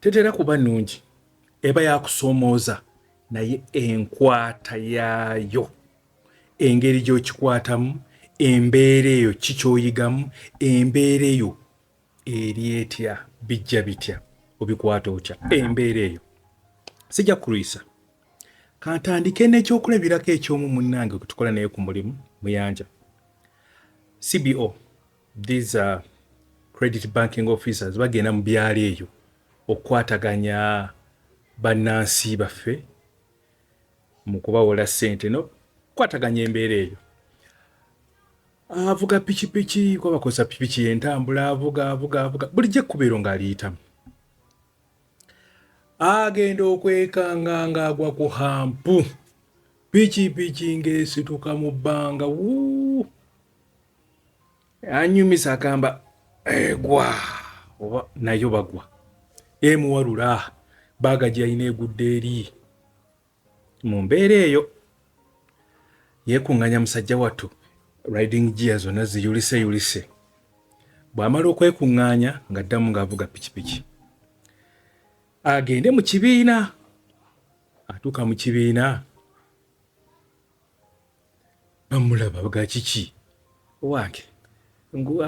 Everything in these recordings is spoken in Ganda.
Tetera kuba nnungi, eba ya kusoomooza, naye enkwata yaayo, engeri gy'okikwatamu, embeera eyo, ki ky'oyigamu, embeera eyo eri etya, bijja bitya, obikwata otya, embeera eyo. Sijja kulwisa. Kantandike n'ekyokulabirako eky'omu munnange gwe tukola naye ku mulimu, Muyanja, CBO. These are credit banking officers bagenda mu byalo eyo okukwataganya bannansi baffe mu kubawola ssente nokukwataganya embeera eyo avuga pikipiki kuba bakozesa pikipiki yentambula avuga avuga avuga bulijjo ekkubeero ng'aliyitamu agenda okwekanga ng'agwa ku hampu pikipiki ng'esituka mu bbanga wuu anyumisa agamba egwa oba nayo bagwa emuwalula baaga gyeyalina egudde eri mu mbeera eyo yeekuŋŋanya musajja wattu riding gia zonna ziyulise yulise bw'amala okwekuŋŋaanya ng'addamu ng'avuga pikipiki agende mu kibiina atuuka mu kibiina bamulaba bga kiki owange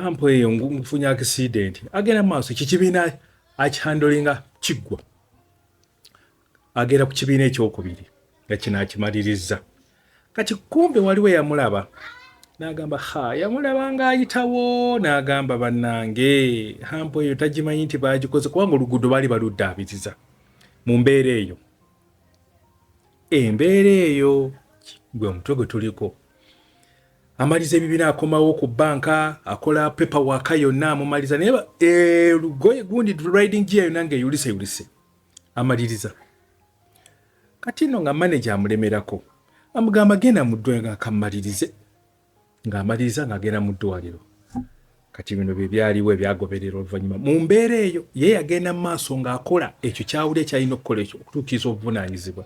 ampo eyo nfunye accident agenda mu maaso kikibiina akihandolinga kiggwa agenda ku kibiina ekyokubiri nga kino akimalirizza kati kumbe waliwo yamulaba nagamba ha yamulaba nga ayitawo nagamba bannange hampo eyo tagimanyi nti bagikoze kubanga oluguudo baali baluddaabiriza mu mbeera eyo embeera eyo gwe mutwe gwe tuliko amaliza ebibina akomawo ku banka akola pepa waka yonna amumaliza naye eh, lugoye gundi riding gia yonna nga eyulise yulise amaliriza kati no nga manaje amulemerako amugamba genda mudwekamalirize ng'amaliriza ng'agenda mu ddwaliro kati bino bye byaliwo ebyagoberera oluvannyuma mu mbeera eyo ye yagenda mu maaso ng'akola ekyo kyawuli ekyalina okukola ekyo okutuukiriza obuvunaanyizibwa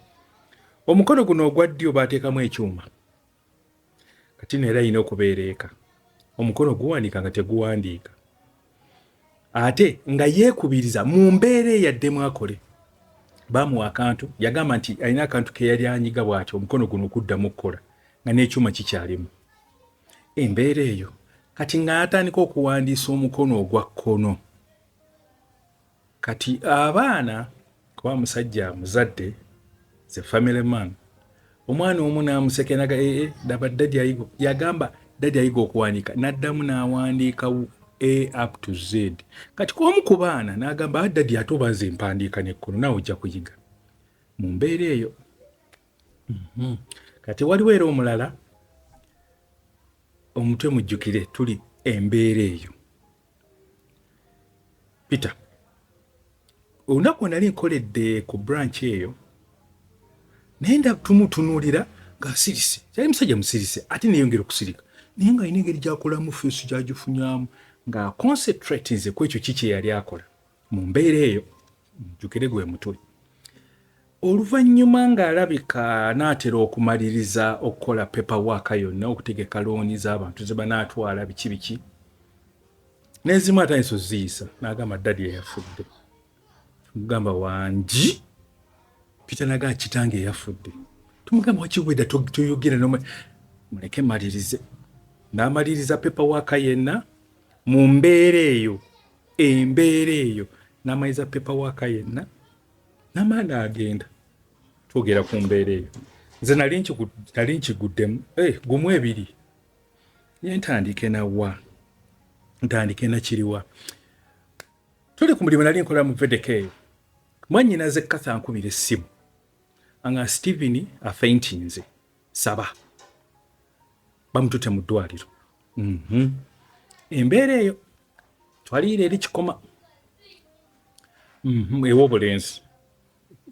omukono guno ogwa ddyo baateekamu ekyuma kati no era alina okubeera eka omukono guwandiika nga teguwandiika ate nga yeekubiriza mu mbeera eyaddemu akole baamuwa akantu yagamba nti alina akantu ke yali anyiga bw'atyo omukono guno okuddamu okukola nga n'ekyuma kikyalimu embeera eyo kati nga yatandika okuwandiisa omukono ogwa kkono Kati abaana kuba omusajja amuzadde ze family man omwana omu namusekenaga ee eh, eh, daba dadi ayiga yagamba dadi ayiga okuwandiika naddamu nawandiika a up to z kati kwomu ku baana nagamba ah, dadi ate oba nze mpandiika nekkono nawe ojja kuyiga mu mbeera eyo mhm. kati waliwo era omulala omutwe mujjukire tuli embeera eyo peter olunaku wenali nkoledde ku branch eyo naye nda tumutunuulira ng'asirise kyali musajja musirise ate neyongera okusirika naye nga alina engeri gyakolamu feesi gyagifunyamu nga concentrate nze ku ekyo ki kyeyali akola mu mbeera eyo mujjukire gwe mutwe oluvannyuma ng'alabika anaatera okumaliriza okukola pepa waaka yonna okutegeka looni z'abantu ze banaatwala biki biki n'ezimu atandisa oziyisa n'agamba ddadi eyafudde mugamba wangi pitanaga kitange eyafudde tumugamba wakiweda toyogera noma muleke malirize n'amaliriza pepa waaka yenna mu mbeera eyo embeera eyo namaiza pepa waka yenna namaana agenda twogera ku mbeera eyo nze nali nkiguddemu eh, gumu ebiri ye ntandike nawa ntandike nakiriwa tuli ku mulimu nali nkola mu vedeka eyo mwanyinaze katha nkubira essimu anga stephen afeintinze saba bamutute mu ddwaliro mhm. embeera eyo twaliira eri kikoma mhm, ewobulenzi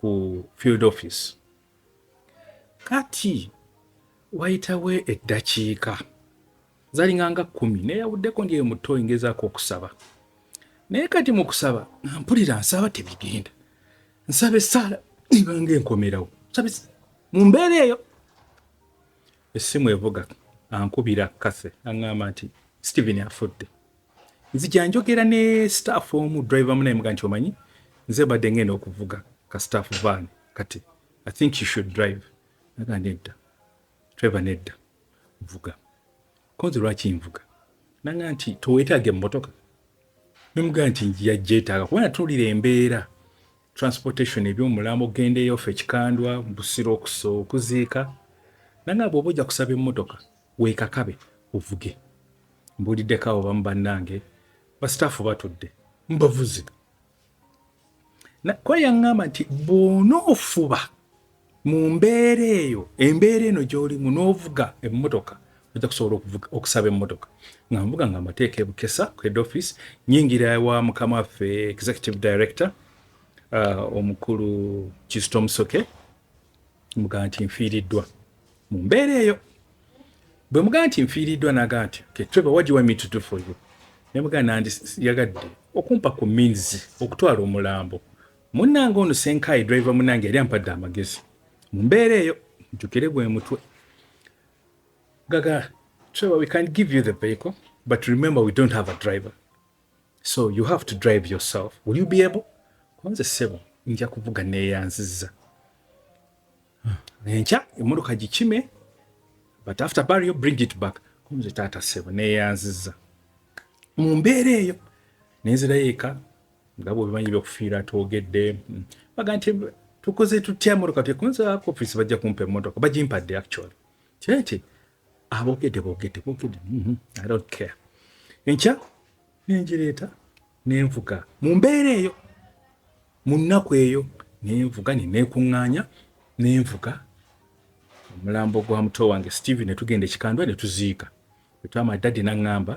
ku field office kati wayitawo eddakiika zalinga nga kumi neyawuddeko ndyeyo muto engezaako okusaba naye kati mu kusaba mpulira nsaba tebigenda nsaba esaala ibanga enkomerawo mu mbeera eyo Essimu evuga ankubira Cathy aŋŋamba nti Steven afudde. Nzija njogera ne staff omu driver munaye muga nti omanyi nze badde ngenda okuvuga ka staff van kati I think you should drive. Naga nedda. Trevor nedda. Vuga. Konze lwaki nvuga nanga nti towetaaga emmotoka nemugaa nti njija gyetaaga kuba natuulira embeera transportation ebyomulambo ogenda eyo ffe kikandwa busiro okusa okuziika nanga bwoba ojja kusaba emmotoka weekakabe ovuge mbuuliddeko abo bamu bannange basitaafu batudde mbavuze kuba yaŋŋamba nti bw'onoofuba mu mbeera eyo embeera eno gy'olimu n'ovuga emmotoka ojja kusobola okusaba emmotoka nga nvuga nga amateeka ebukesa ku head office nyingira wa mukama waffe executive director uh, omukulu kisito musoke mugamba nti nfiiriddwa mu mbeera eyo bwe mugamba nti nfiiriddwa nagamba nti ketreba wagiwamitutufuyo ne mugamba nandi yagadde okumpa ku means okutwala omulambo munnange ono senkaayi driver munnange yali ampadde amagezi mu mbeera eyo njukire gwe mutwe gaga treba we can give you the vehicle but remember we don't have a driver so you have to drive yourself will you be able kunze sebo nja kuvuga neyanziza enkya emotoka gikime but after burial bring it back kunze taata sebo neyanziza mu mbeera eyo nenzirayo eka nga bwebimanyi byokufiira twogedde mm. baga nti tukoze tutya emotoka tekunza ku office bajja kumpa emotoka bagimpadde actually kyekye abogedde bogedde bogedde mhm, i don't care enkya nenjireeta nenvuga mu mbeera eyo mu nnaku eyo nenvuga neneekuŋŋaanya nenvuga omulambo gwa muto wange steve netugenda ekikandwa netuziika etwama dadi naŋŋamba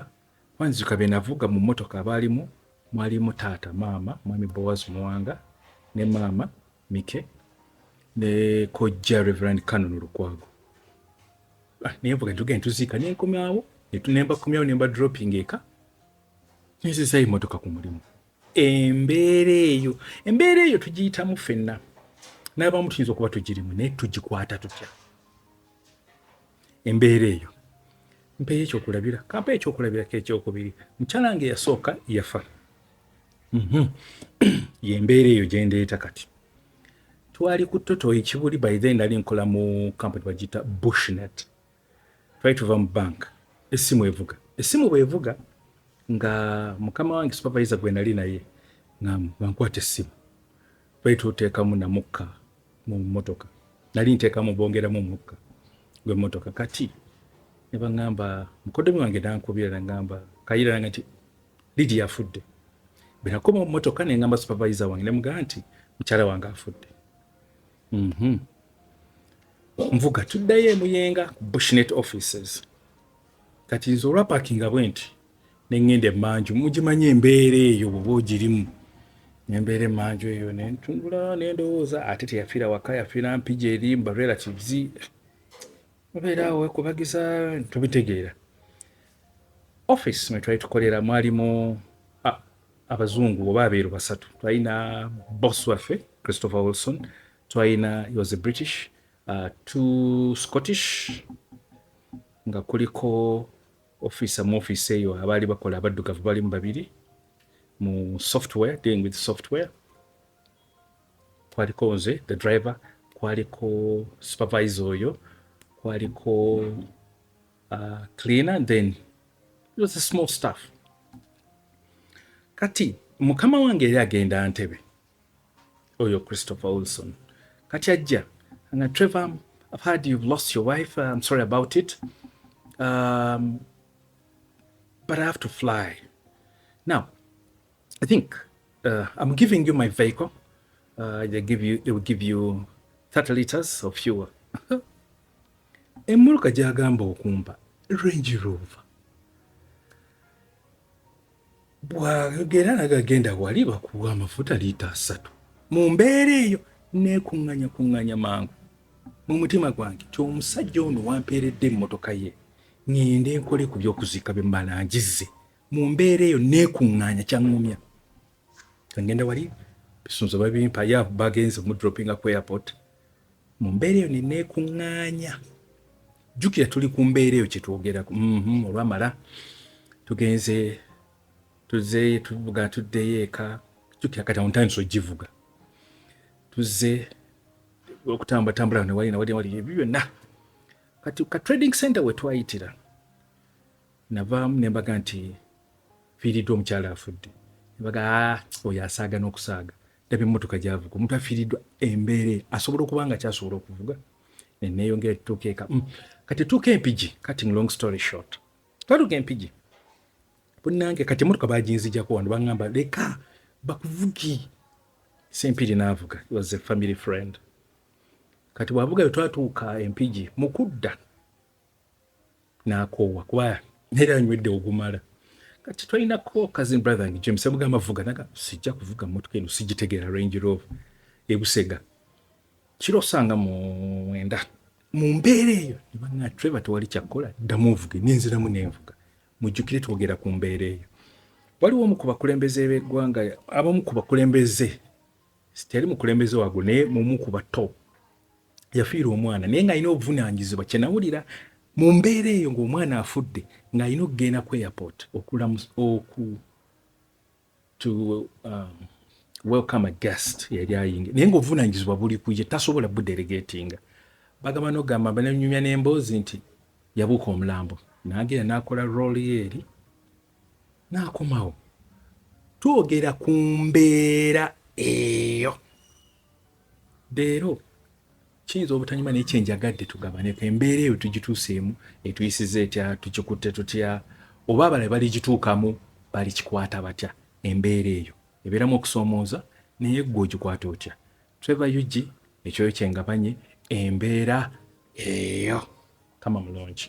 wanziika benavuga mu mmotoka abaalimu mwalimu taata maama mwami bowazi muwanga ne maama mike ne kojja reverand canon lukwago ah, naye mvuga ntuge ntuziika nenkomyawo nembakomyawo nemba dropping eka nezizayo emotoka ku mulimu embeera eyo embeera eyo tugiyitamu fenna n'abamu tuyinza okuba tugirimu naye tugikwata tutya embeera eyo mpeyo ekyokulabira kampa ekyokulabirako ekyokubiri mukyala nge yasooka yafa Mhm. yembeera eyo gyendeeta kati twali ku toto ekibuli by then nali nkola mu kampani bagiyita bushnet twali tuva mu bank essimu evuga essimu bwevuga nga mukama wange supavayiza gwe nali naye ngankwata essimu twali tuteekamu namukka mu motoka nali nteekamu bongeramu mukka gwe motoka kati ne baŋŋamba mukoddomi wange nankubira naŋŋamba kayira nange nti Ligi yafudde. Bwe nakoma mu mmotoka ne ngamba supavayiza wange ne mugamba nti mukyala wange afudde. Mhm. Nvuga tuddayo e Muyenga ku Bushnet offices. Kati nze olwa pakinga bwe nti ne ŋŋenda emmanju mugimanyi embeera eyo bw'oba ogirimu ne mbeera emmanju eyo ne ntunula ne ndowooza ate teyafiira waka yafiira mpigi eri mu barelatives obeera awo wekubagiza tubitegeera office mwe twali tukolera mwalimu abazungu oba abeeru basatu twalina boss waffe christopher wilson twalina he was a british uh, two scottish nga kuliko offiisa mu offiisi eyo abaali bakola abaddugavu balimu babiri mu software dealing with software kwaliko nze the driver kwaliko supervisor oyo kwaliko uh, cleaner then it was a small staff kati mukama wange yali agenda ntebe oyo christopher wilson kati ajja nga trevor i've heard you've lost your wife i'm sorry about it um, but i have to fly now I think uh, I'm giving you my vehicle. Uh, they give you, they will give you 30 liters of fuel. Emuluka gyagamba okumba Range Rover. Bwagera nagagenda wali bakuwa amafuta lita asatu. Mu mbeera eyo neekuŋŋanya kuŋŋanya mangu mu mutima gwange ti omusajja ono wampeeredde emmotoka ye ŋŋende nkole ku by'okuziika bye mmala ngizze mu mbeera eyo neekuŋŋaanya kyaŋŋumya ngenda wali bisunzo babimpa ya bagenze omudropinga ku airport mu mbeera eyo neneekuŋŋaanya jjukira tuli ku mbeera eyo kyetwogerako mhm, olwamala tugenze tuzeeyo tuvuga tuddeyo eka jjukira kati ontandisa ogivuga tuzze okutambula tambula newali nawali ebyo byonna kati ka trading center wetwayitira Navaamu ne mbaga nti fiiriddwa omukyala afudde, ne baga ah, oyo asaaga n'okusaaga ndaba emmotoka gyavuga omuntu afiiriddwa embeera asobola okuba nga kyasobola okuvuga neneeyongera tutuuka eka mm. kati tuuka empigi cutting long story short twatuuka empigi bunange kati emmotoka baginzijako wano baŋamba leka bakuvugi sempiri n'avuga was a family friend kati bwavuga bwe twatuuka empigi mu kudda nakoowa kuba naye anywedde ogumala kati tolina ko cousin brother nge james avuga amavuga naga sijja kuvuga mmotoka eno sigitegera range rover ebusega kiro osanga mwenda mu mbeera eyo nebanga trevor tewali kyakkola ddamu ovuge nenziramu nenvuga mujjukire twogera ku mbeera eyo waliwo omu ku bakulembeze b'eggwanga abamu ku bakulembeze sitali mukulembeze wago naye mumu ku bato yafiirwa omwana naye ng'alina obuvunaanyizibwa kye nawulira mu mbeera eyo ng'omwana afudde ng'alina okugenda ku airport okulamu oku to um, welcome a guest yali ayingi naye ng'obuvunaanyizibwa buli kuye tasobola budelegatinga bagamba nogamba bananyumya n'emboozi nti yabuuka omulambo nagenda n'akola rooli eri n'akomawo twogera ku mbeera eyo leero kiyinza obutanyuma naye kyenjagadde tugabaneko embeera eyo tugituuseemu etuyisiza etya tukikutte tutya oba abala baligituukamu balikikwata batya embeera eyo ebeeramu okusoomooza naye gwe ogikwata otya trevor ug ekyoyo kyengabanye embeera eyo kama mulungi